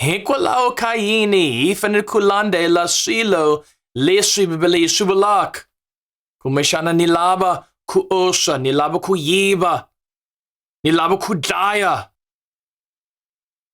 Hikwalaho ka yini hi fanele ku landzela swilo leswi Bibele yi swi vulaka? Kumbexana ni lava ku oxa, ni lava ku yiva, ni lava ku dlaya.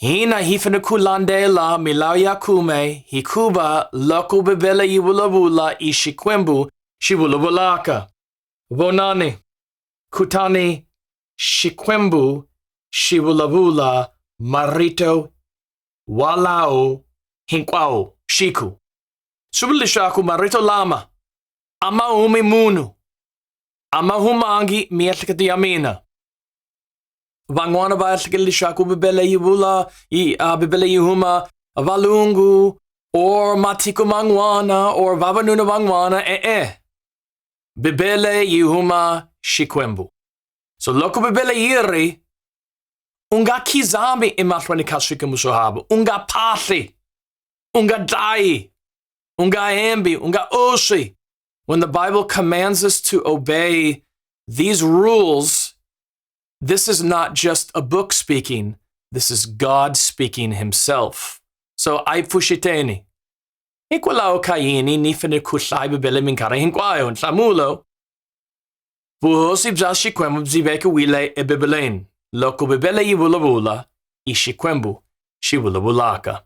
Hina hi fanele ku landzela milawu ya khume hikuva loko Bibele yi vulavula i Xikwembu xi vulavulaka. Vonani, kutani Shikwembu, Shivulavula, Marito, Walao, Hinkwao, Shiku. Swi vula leswaku marito lama a ma humi munhu a ma humangi miehleketo ya mina van'wana va ehlekele leswaku bibele yi vula yi uh, bibele yi huma valungu or matiko man'wana or vavanuna van'wana e-e Bibele yihuma Xikwembu. So loko Bibele yi ri u nga khizami emahlweni ka swikwembu swo hava, u nga phahli, u nga dlayi, u nga hembi, u nga oswi. When the Bible commands us to obey these rules, this is not just a book speaking, this is God speaking himself. So I pushiteni. Hikwalaho ka yini ni fanele ku hlaya Bibele minkarhi hinkwayo? Nhlamulo, Vuhosi bya Xikwembu byi vekiwile eBibeleni. Loko Bibele yi vulavula, i Xikwembu xi vulavulaka.